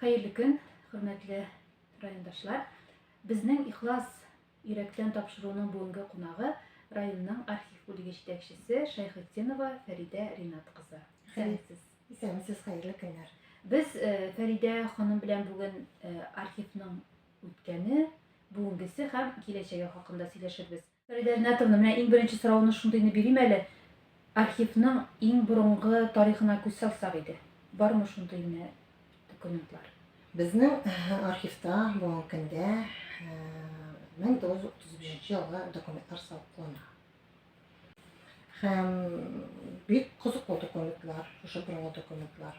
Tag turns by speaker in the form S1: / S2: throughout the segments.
S1: Хәерле көн, хөрмәтле райондашлар. Безнең ихлас йөрәктән тапшыруның бүгенге кунагы районның архив бүлеге җитәкчесе Шәйхетдинова Фәридә Ринат кызы. Хәерлесез. Исәнмесез,
S2: хәерле көннәр. Без э,
S1: Фәридә ханым белән бүген э, архивның үткәне, бүгенгесе һәм киләчәге хакында сөйләшербез. Фәридә Ринатовна, менә иң беренче соравымны шундыйны бирим әле, архивның иң борынгы тарихына күз салсак иде, бармы шундыйны документлар? Безнең
S2: архивта бүгенге көндә 1935 елгы документлар саклана. Һәм бик кызыклы документлар, шушы борынгы документлар.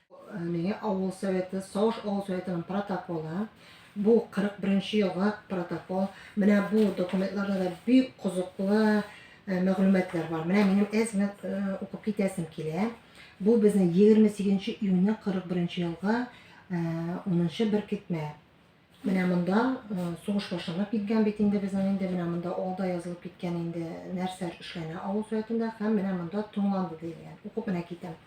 S2: Миңе авыл советы, Савыш авыл советының протоколы. Бу 41-нче елга протокол. Менә бу документларда да бик кызыклы мәгълүматлар бар. Менә минем әз генә укып китәсем килә. Бу безнең 28 июньне 41 елга 10 беркетмә. Менә монда сугыш башланып киткән бит инде безнең инде, менә монда алда язылып киткән инде нәрсәр эшләнә авыл советында һәм менә монда тыңланды диелгән. Укып менә китәм.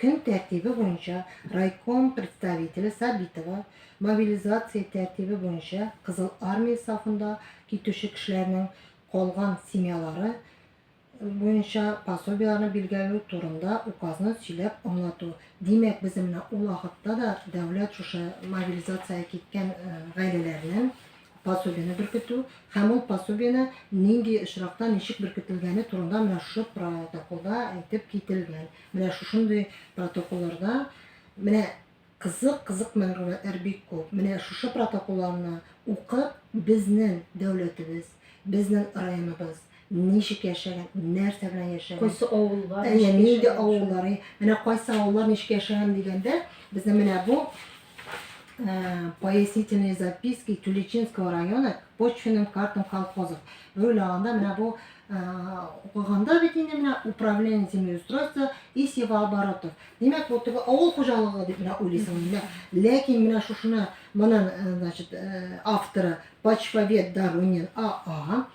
S2: Көн тәртибе буенча райком представителе Сабитова мобилизация тәртибе буенча Кызыл Армия сафында китүче кешеләрнең калган семьялары буенча пособиеләрне билгеләү турында Указны сөйләп аңлату. Димәк, безнең менә ул вакытта да дәүләт шушы мобилизациягә киткән гаиләләрнең пособиене беркетү һәм ул пособиене нинди очракта ничек беркетелгәне турында менә шушы протоколда әйтеп кителгән. Менә шушындый протоколларда менә Кызык, кызык мәгълүматлар бик күп. Менә шушы протоколларны укып, безнең дәүләтебез, безнең районыбыз ничек яшәгән, нәрсә белән яшәгән. Кайсы авыллар ничек
S1: яшәгән. Әйе, нинди авыллар,
S2: менә кайсы авыллар ничек яшәгән дигәндә, безнең менә бу пояснительные записки Тюлечинского района к почвенным картам колхозов. Бер уйлаганда менә бу укыганда бит инде менә управление землеустройства и севооборотов. Димәк, бу теге авыл хуҗалыгы дип менә уйлыйсың инде. Ләкин менә шушыны моның, э, значит, э, авторы Почвовед Доронин АА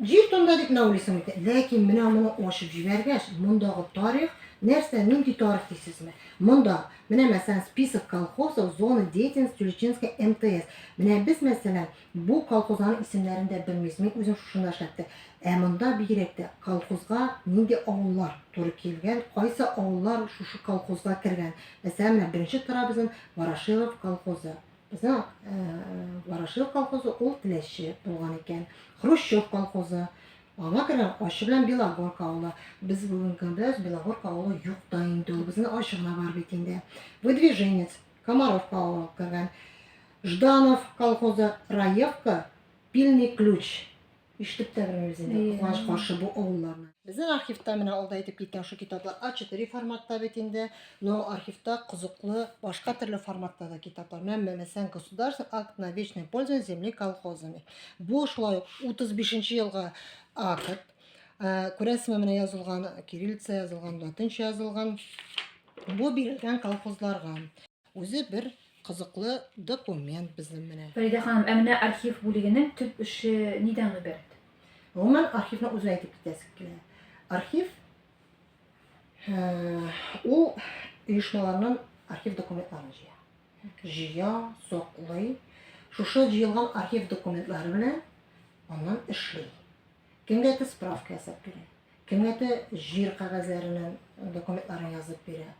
S2: җир тонда дип менә уйлыйсың икән. Ләкин менә моны ачып җибәргәч, мондагы тарих нәрсә, нинди тарих дисезме? Монда, менә мәсәлән, список колхозов зоны деятельности Тюлечинской МТС. Менә без мәсәлән, Бу колхозларның исемнәрен дә белмибез. Мин үзем шушында эшләптә. Ә монда бигрәк тә колхозга нинди авыллар туры килгән, кайсы авыллар шушы колхозга кергән. Мәсәлән, менә беренче тора безнең Ворошилов колхозы. Безнең Ворошилов колхозы ул Теләче булган икән. Хрущев колхозы. Аңа кергән Ачы белән Белогорка авылы. Без бүгенге көндә Белогорка авылы юк та инде. Безнең Ачы гына бар бит инде. Выдвиженец Комаровка авылы алып кергән. Жданов колхозы Раевка, Пильный ключ. Ишетеп тә белмибез инде, кызганыч каршы бу авылларны. Безнең архивта менә алда әйтеп киткән шул китаплар А4 форматта бит инде, но архивта кызыклы башка төрле форматта да китаплар. Менә Мәмәсән государственный акт на вечное пользование земли колхозами. Бу шулай ук 35 елга акт. Күрәсезме, менә язылган кириллица, язылган латынча язылган. Бу бирелгән колхозларга. Үзе бер кызыклы документ безнең менә. Фәридә ханым, ә менә архив
S1: бүлегенең төп эше нидән гыйбарәт? Гомумән,
S2: архивны үзе әйтеп китәсе килә. Архив ул оешмаларның архив документларын җыя. Җыя, соклый. Шушы җыелган архив документлары белән аннан эшли. Кемгә справка ясап бирә. Кемнәтә җир кәгазьләренен документларын язып бирә.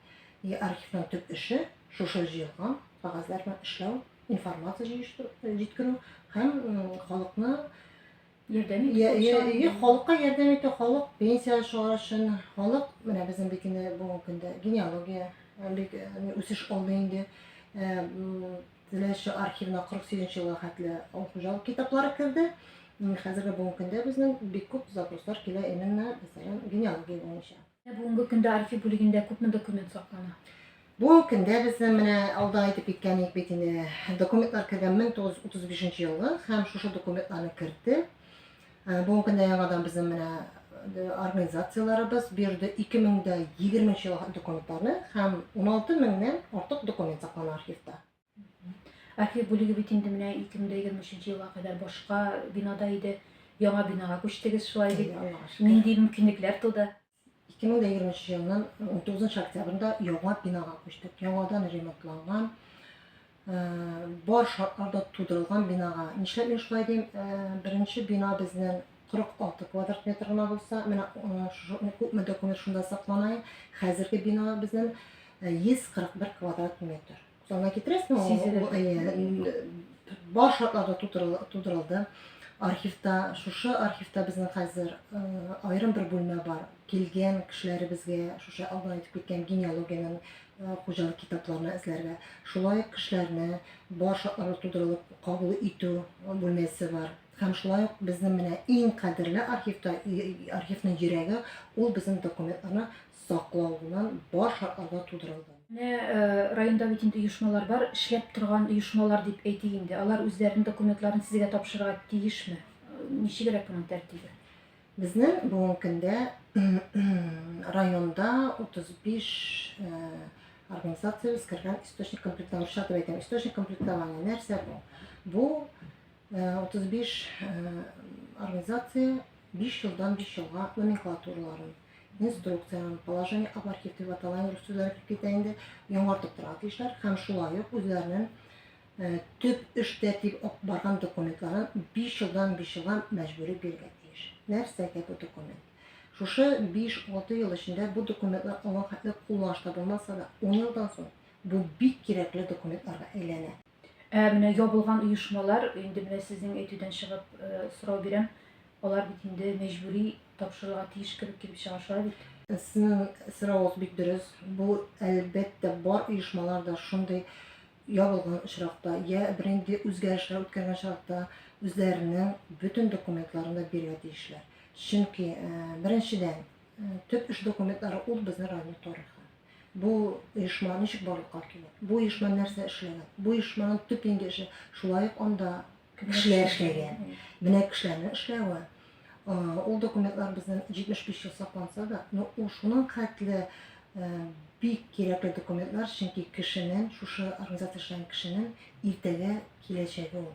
S2: И архивның төп эше шушы җыелган кәгазьләрне эшләү, информация җыештыру, җиткерү һәм халыкны ярдәм
S1: итү. Халыкка ярдәм итү,
S2: халык пенсия чыгару өчен, халык менә безнең бит инде бүгенге көндә генеалогия бик үсеш алды инде. Теләче архивына 48 нче елга хәтле авыл хуҗалык китаплары керде. Хәзерге бүгенге көндә безнең бик күп запрослар килә именно, мәсәлән,
S1: генеалогия
S2: буенча.
S1: Бүгенге
S2: көндә
S1: архив бүлегендә
S2: күпме
S1: документ саклана? Бүгенге
S2: көндә безнең менә алда әйтеп киткән идек бит инде, документлар кергән 1935 елгы һәм шушы документларны кертте. Бүгенге көндә яңадан безнең менә организацияләребез бу йөрде 2020 нче елга документларны һәм 16 меңнән артык документ саклана архивта.
S1: Архив бүлеге бит инде менә 2023 елга кадәр башка бинада иде. Яңа бинага күчтегез шулай дип. Нинди
S2: мөмкинлекләр туды? 2023 елның 19 октябрында яңа бинага күчтек. Яңадан ремонтланган, бар шартларда тудырылган бинага. Нишләп мин шулай дим? Беренче бина безнең 46 квадрат метр гына булса, менә күпме документ шунда саклана. Хәзерге бина безнең 141 квадрат метр. Сана китерәсең, бар шартларда тудырылды. Архивта, шушы архивта безнең хәзер аерым бер бүлмә бар. Килгән кешеләребезгә, шушы алдан әйтеп киткән генеалогиянең хуҗалык китапларына эзләргә. Шулай ук кешеләрне бар шартларда тудырылып кабул итү бүлмәсе бар. Һәм шулай ук безнең менә иң кадерле архивта, архивның йөрәге, ул безнең документларны саклауыннан баш ага тудырылган. Менә
S1: районда бит инде оешмалар бар, эшләп торган оешмалар дип әйтик инде. Алар үзләренең документларын сезгә тапшырырга тиешме? Ничегрәк моның тәртибе? Безнең
S2: бүгенге көндә районда 35 организациябез кергән источник комплектовщик дип әйтәм. Источник комплектования нәрсә бу? Бу 35 организация 5 елдан 5 елга номенклатураларын инструкциянең положение об архив дип аталган рус сүзләре килеп китә инде, яңартып тора тиешләр һәм шулай ук үзләренең э, төп эштә дип барган документларын 5 елдан 5 елга мәҗбүри бирергә тиеш. Нәрсәгә бу документ? Шушы 5-6 ел эчендә бу документлар алган хәтле кулланышта булмаса да, 10 елдан соң бу бик кирәкле документларга әйләнә. Ә менә
S1: ябылган оешмалар, инде менә сезнең әйтүдән чыгып сорау бирәм, алар бит инде мәҗбүри тапшырырга тиеш кебек килеп чыга, шулай бит? Сезнең
S2: соравыгыз бик дөрес. Бу, әлбәттә, бар оешмалар да шундый ябылган очракта, я бер инде үзгәрешләр үткәргән чакта үзләренең бөтен документларын да бирергә тиешләр. Чөнки, беренчедән, төп эш документлары ул безнең районның тарихы. Бу оешма ничек барлыкка килә? Бу оешма нәрсә эшләгән? Бу оешманың төп инде эше шулай ук анда кешеләр эшләгән. Менә кешеләрнең эшләве. Ул документлар безнең 75 ел сакланса да, но ул шуның хәтле бик кирәкле документлар, чөнки кешенең, шушы организация эшләгән кешенең иртәгә киләчәге ул.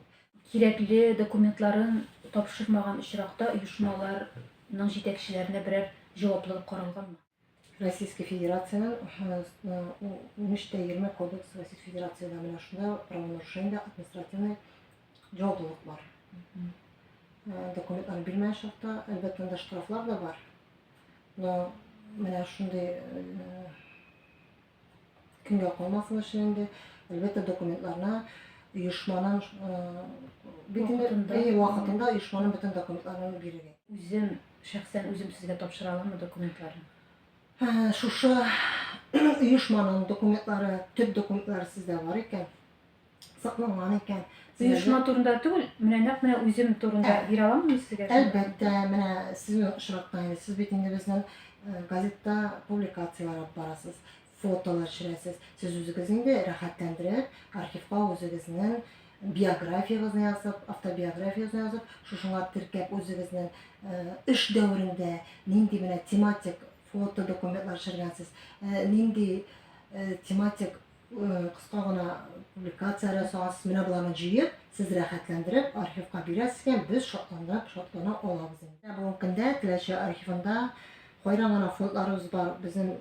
S2: Кирәкле
S1: документларын тапшырмаган очракта оешмаларның җитәкчеләренә берәр җаваплылык каралганмы? Российская
S2: Федерациянең унөч тә егерме кодексы Российская Федерациядә менә шунда правонарушениедә административный җаваплылык бар. Документларны бирмәгән чакта, әлбәттә, анда штрафлар да бар. Но менә шундый Кемгә калмасын өчен инде, әлбәттә, документларына оешманың бөтен вакытында оешманың бөтен документларын бирергә. Үзем,
S1: шәхсән үзем сезгә тапшыра аламмы документларын?
S2: Шушы оешманың документлары, төп документлары сездә бар икән. сакланган икән. Оешма турында
S1: түгел, менә нәкъ менә үзем турында ә, бирә аламмы сезгә? Әлбәттә, менә
S2: сез очракта инде, сез бит инде безнең э, газетта публикацияләр алып барасыз, фотолар төшерәсез. Сез үзегез инде рәхәтләндереп, архивка үзегезнең биографиягезне язып, автобиографиягезне язып, шушыңа теркәп үзегезнең э, эш дәверендә нинди менә тематик фото документлар төшергәнсез, э, нинди тематик Кыска гына публикация ясагыз, менә боларны җыеп, сез рәхәтләндереп, архивка бирәсез икән, без шатланып, шатлана алабыз инде. Ә бүгенге көндә Теләче архивында кайран гына фондларыбыз бар, безнең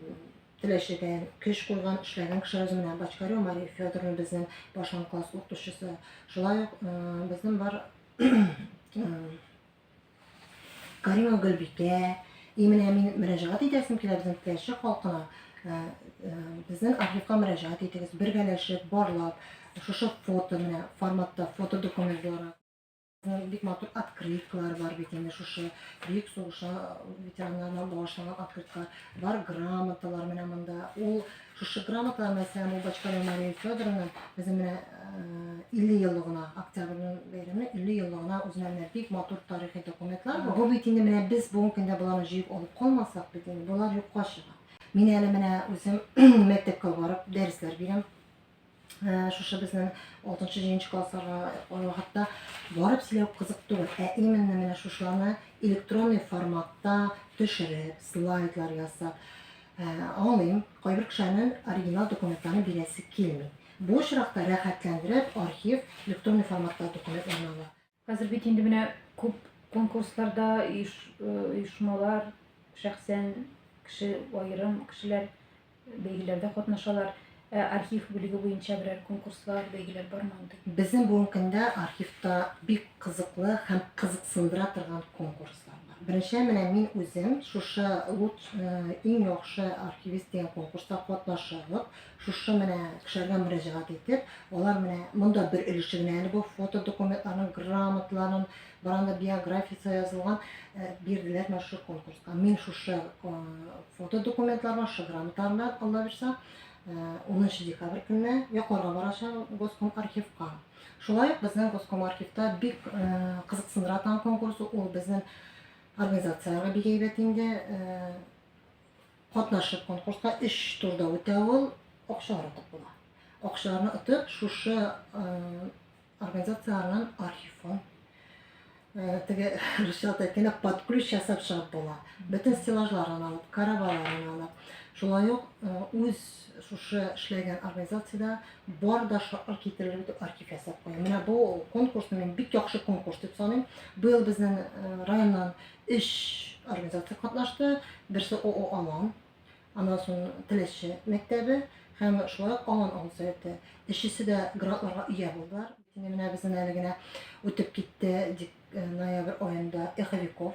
S2: Теләчедән көч куйган, эшләгән кешеләребез менә Бачкарю Мария Федоровна безнең башлангыч класс укытучысы. Шулай ук безнең бар Каримова Гөлбикә, и менә мин мөрәҗәгать итәсем килә безнең теләче халкына, э, э, безнең архивка мөрәҗәгать итегез, бергәләшеп, барлап, шушы фото менә форматта фото документ буларак. Безнең бик матур открыткалар бар бит инде шушы бөек сугыша ветераннарына багышланган открыткалар бар, грамоталар менә монда. Ул Шушы грамотаны һәм ул башкару Мария Федоровна безнең менә 50 э, еллыгына, октябрьнең бәйрәме 50 еллыгына үзенә менә бик матур тарихи документлар. Бу бит инде менә без бүгенге көндә боларны җыеп алып калмасак бит инде болар юкка чыга. Мин әле менә үзем мәктәпкә барып дәресләр бирәм. Ә, шушы безнең 6-7 классларга э, хәтта барып сөйләү кызык түгел, ә именно менә шушыларны электронный форматта төшереп, слайдлар ясап, э, аңлыйм, кайбер кешенең оригинал документларны бирәсе килми. Бу очракта рәхәтләндереп архив электронный форматта документларны ала. Хәзер бит инде менә
S1: күп конкурсларда оешмалар, шәхсән кеше, аерым кешеләр бәйгеләрдә катнашалар. Ә архив бүлеге буенча берәр конкурслар, бәйгеләр бармы андый? Безнең бүгенге көндә
S2: архивта бик кызыклы һәм кызыксындыра торган конкурслар бар. Беренче менә мин үзем шушы лут иң яхшы архивист дигән конкурста катнашып, Шушы менә кешеләргә мөрәҗәгать итеп, алар менә монда бер өлеше генә әле бу фото документларын, грамоталарын, баранда биографиясе язылган э, бирделәр менә шушы конкурска. Мин шушы э, фото документлар белән, шушы грамоталар белән, Алла бирса, 10 э, декабрь көнне йокларга барачак Госком архивка. Шулай ук безнең Госком архивта бик э, кызыксындыра торган конкурс ул безнең организацияләргә бик әйбәт инде. Э, Катнашып конкурска өч турда үтә ул, акчалар отып була. Акчаларны отып, шушы организацияләрнең архивын теге русча әйткәндә под ключ ясап чыгып була. Бөтен стеллажларын алып, караваларын алып, шулай ук үз шушы эшләгән организациядә бар да шартлар китерелеп итеп архив ясап куя. Менә бу конкурсны мин бик яхшы конкурс дип саныйм. Быел безнең районнан өч организация катнашты. Берсе ООО Алан, аннан соң Теләче мәктәбе һәм шулай ук Алан авыл советы. Өчесе дә грантларга ия булдылар. Инде менә безнең әле генә үтеп китте дик, э, ноябрь аенда Эховиков.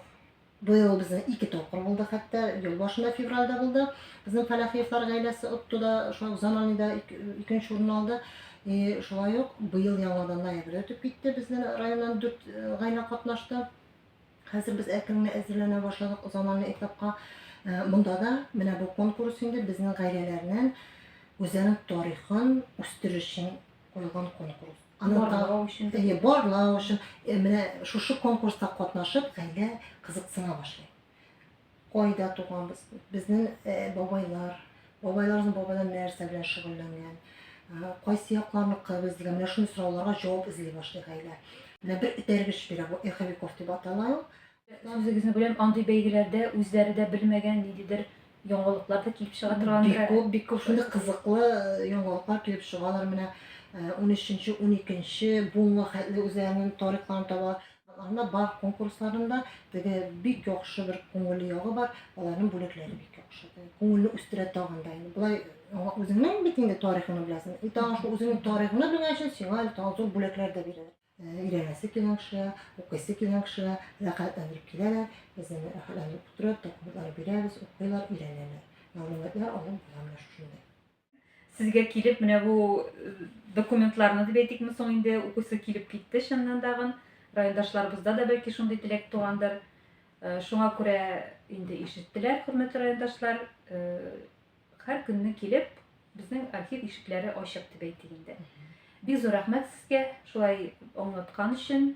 S2: Быел безнең ике тапкыр булды хәтта, ел башында февральдә булды. Безнең Фәләхиевлар гаиләсе отты да, шулай ук Заманида икенче урын алды. И шулай ук быел яңадан ноябрьдә үтеп китте, безнең районнан дүрт э, гаилә катнашты. Хәзер без әкренле әзерләнә башладык заманлы этапка. Монда да менә бу конкурс инде безнең гаиләләрнең үзенең тарихын үстерү өчен куелган конкурс. Барлау өчен.
S1: Әйе, барлау өчен.
S2: Менә шушы конкурста катнашып, гаилә кызыксына башлый. Кайда туганбыз? Безнең бабайлар, бабайларыбызның бабайлары нәрсә белән шөгыльләнгән? Кайсы якларныкы без дигән менә шундый сорауларга җавап эзли башлый гаилә. Менә бер этәргеч бирә бу эховиков дип атала ул. Үзегезне беләм,
S1: андый бәйгеләрдә үзләре дә белмәгән ниндидер яңалыклар да килеп чыга торган. Бик күп, бик күп шундый кызыклы
S2: яңалыклар килеп чыгалар. Менә 13-12 буынга хәтле үзләренең тарихларын таба. Анда бар конкурсларында теге бик яхшы бер күңелле ягы бар, аларның бүләкләре бик яхшы. Күңелне үстерә тагын да. Болай аңа үзеңнең бит инде тарихыңны беләсең. И тагын шул үзеңнең тарихыңны белгән өчен сиңа әле тагын зур бүләкләр дә бирәләр. Өйрәнәсе килгән кешегә, укыйсы килгән кешегә рәхәтләндереп киләләр. Без аны рәхәтләндереп кутырып, документлар бирәбез, укыйлар, өйрәнәләр. Мәгълүматлар алып була менә шушындый. Сезгә
S1: килеп менә бу э, документларны дип әйтикме соң инде укысы килеп китте чыннан тагын. Райондашларыбызда да бәлки шундый теләк тугандыр. Э, шуңа күрә инде ишеттеләр, хөрмәтле райондашлар. Э, һәр көнне килеп, безнең архив ишекләре ачык дип әйтик инде. Бик зур рәхмәт сезгә шулай аңлаткан өчен.